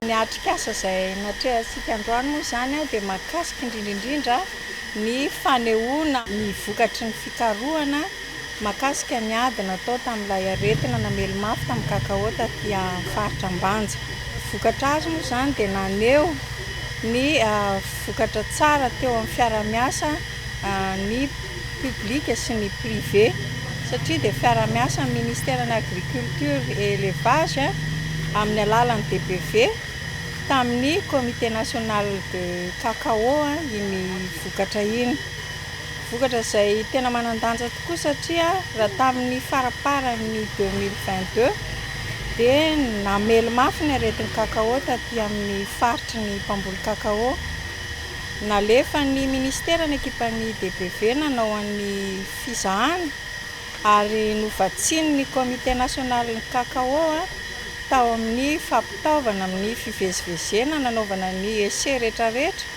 Ny atrikasa izay natrehantsika androany moa izany dia mahakasika indrindra indrindra ny fanehoana ny vokatry ny fikarohana, mahakasika ny ady natao tamin'ilay aretina namely mafy tamin'ny kakaô tatỳ amin'ny faritra Ambanja. Vokatra azo moa izany dia naneho ny vokatra tsara teo amin'ny fiarahamiasa ny public sy ny privé satria dia fiarahamiasa amin'ny ministeran'ny agriculture et elevage amin'ny alalan'ny DPV tamin'ny comité national de cacao iny vokatra iny. Vokatra izay tena manan-danja tokoa satria raha tamin'ny faramparan'ny deux mille vingt deux dia namely mafy ny aretin'ny cacao taty amin'ny faritry ny mpamboly cacao. Nalefan'ny minisitera ny ekipan'ny DBV nanao an'ny fizahana ary novatsian'ny Comité national ny cacao tao amin'ny fampitaovana amin'ny fivezivezena nanaovana ny essais rehetrarehetra.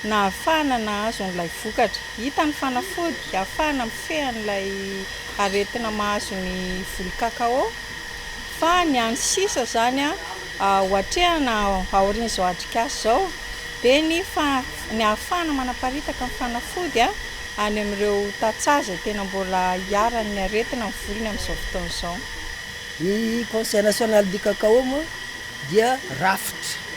nahafahana nahazo an'ilay vokatra. Hita ny fanafody hahafahana mifehy an'ilay aretina mahazo ny voly cacao, fa ny an'ny sisa izany ho atrehina aorian'izao atrikasa izao dia ny ny hahafahana manaparitaka ny fanafody any amin'ireo tantsaha izay tena mbola iharan'ny aretina ny volony amin'izao fotoana izao. Ny Conseil National du Cacao moa dia rafitra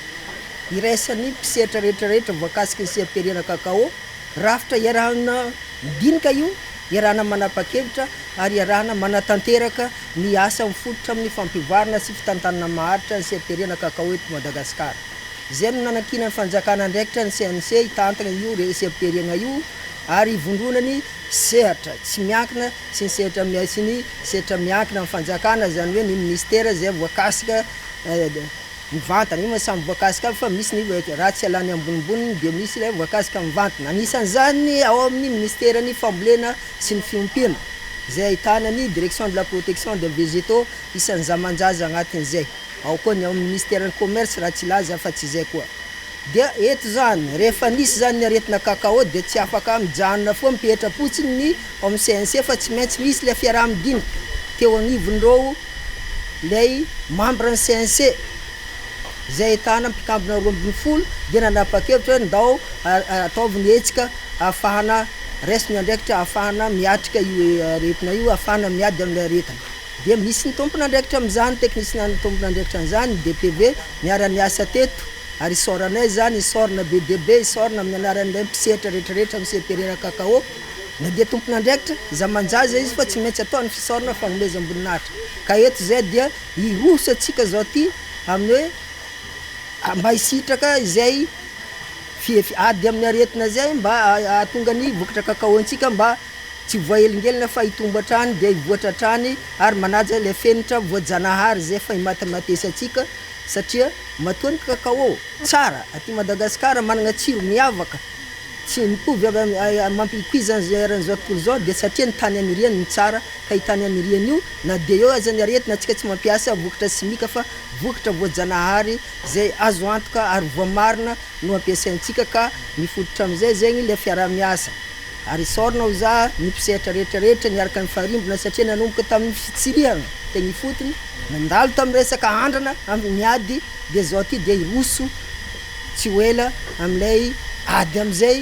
iraisan'ny mpisetra rehetra rehetra voakasika ny seha-pihariana Kakao, rafitra iarahana midinika io, iarahana manapa-kevitra ary iarahana manatanteraka ny asa mifototra amin'ny fampivoarana sy fitantanana maharitra ny seha-pihariana Kakao eto Madagasikara. Izay no nanankinan'ny fanjakana andraikitra ny CNC hitantana io seha-pihariana io ary hivondronany sehatra tsy miankina sy ny sehatra miha sy ny sehatra miankina amin'ny fanjakana, izany hoe ny ministera izay voakasika mivantana, io moa samy voakasika aby fa misy ny raha tsy ialany ambonimboniny dia misy ilay voakasika mivantana, anisan'izany ny ao amin'ny ministeran'ny fambolena sy ny fiompiana izay ahitana ny direction de la protection des végétaux isan'ny zamanjaza agnatin'izay, ao koa ny ao amin'ny ministeran'ny commerce raha tsy hilaza afa-tsy izay koa. Dia eto izany, rehefa nisy izany ny aretina cacao dia tsy afaka mijanona foana mipetra-potsiny ny. ao amin'ny CNC fa tsy maintsy misy ilay fiaraha-midinika teo anivon'ireo ilay mambra ny CNC izay ahitana mpikambona roa ambin'ny folo dia nanapa-kevitra hoe ndao ataovy ny hetsika ahafahana raiso ny andraikitra ahafahana miatrika io aretina io ahafahana miady amin'ilay aretina dia misy ny tompon'andraikitra amin'izany teknisina ny tompon'andraikitra an'izany ny DPV niara-niasa teto ary isaoranay izany isaorana be dia be isaorana amin'ny anaran'ilay mpisehatra rehetrarehetra amin'ny CPRERA Cacao Na dia tompon'andraikitra zamanjaza izy fa tsy maintsy atao ny fisaorana fagnomezam-boninahitra. Ka eto izay dia hiroso antsika izao ity amin'ny hoe mba hisitraka izay fihefy ady amin'ny aretina izay mba hahatonga ny vokatra kakaontsika mba tsy voahelingelina fa hitombo hatrany dia hivoatra hatrany ary manaja ilay fenitra voajanahary izay efa himatimatesantsika satria matoa ny kakao tsara aty Madagasikara manana tsiro miavaka Tsy mitovy amin'ny mampipoizana izao eran'izao tontolo izao dia satria ny tany aniriany no tsara ka io tany aniriany io na dia eo aza ny aretina antsika tsy mampiasa vokatra simika fa vokatra voajanahary izay azo antoka ary voamarina no ampiasaintsika ka mifototra amin'izay zegny ilay fiaraha-miasa ary isaorana ho za ny mpisehatra rehetra rehetra niaraka nifarimbona satria nanomboka tamin'ny fitsirihana teny ifotony nandalo tamin'ny resaka andrana amin'ny ady dia izao ty dia hiroso Tsy ho ela amin'ilay ady amin'izay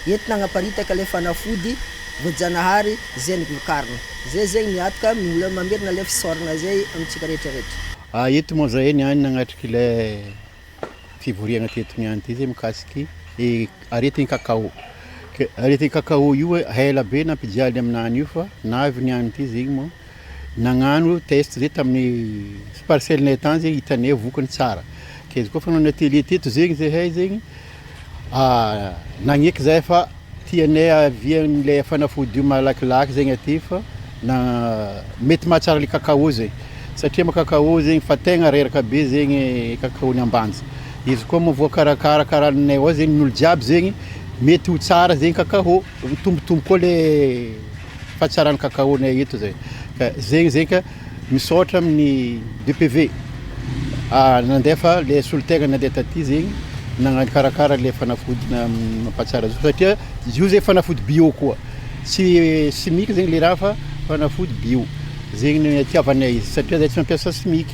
entina hanaparitaka ilay fanafody voajanahary zen glucarne. Izay zegny miatoka mbola mamerina ilay fisaorana izay amintsika rehetra rehetra. A eto moa zahay niany nagnatrika ilay fivoriagna teto niany ty zay mikasiky i aretigny cacao. Ke aretigny cacao io ela be nampijaly aminany io fa navy niany ty zegny moa. Nagnano test zay tamin'ny parcelle nay tany zay hitanay vokany tsara ke izy koa fa nanao atelier teto zegny zahay zegny nagneky zahay fa tianay avia anle fanafody io malakilaky zegny aty fa na mety mahatsara le cacao zay satria mo cacao zegny fa tegna reraka be zegny cacao ny ambanja izy koa mo voakarakara kara anay ao zegny ny olo jiaby zegny mety ho tsara zegny cacao mitombotombo koa le Fa tsara ny cacao nay eto zay ka zegny zegny ka misaotra amin'ny DPV nandefa le solontegna nandeha taty zegny nagnakarakara le fanafody mampatsara zo satria zio zay fanafody bio koa tsy simika zegny le raha fa fanafody bio zegny ny itiavanay izy satria zay tsy mampiasa simika.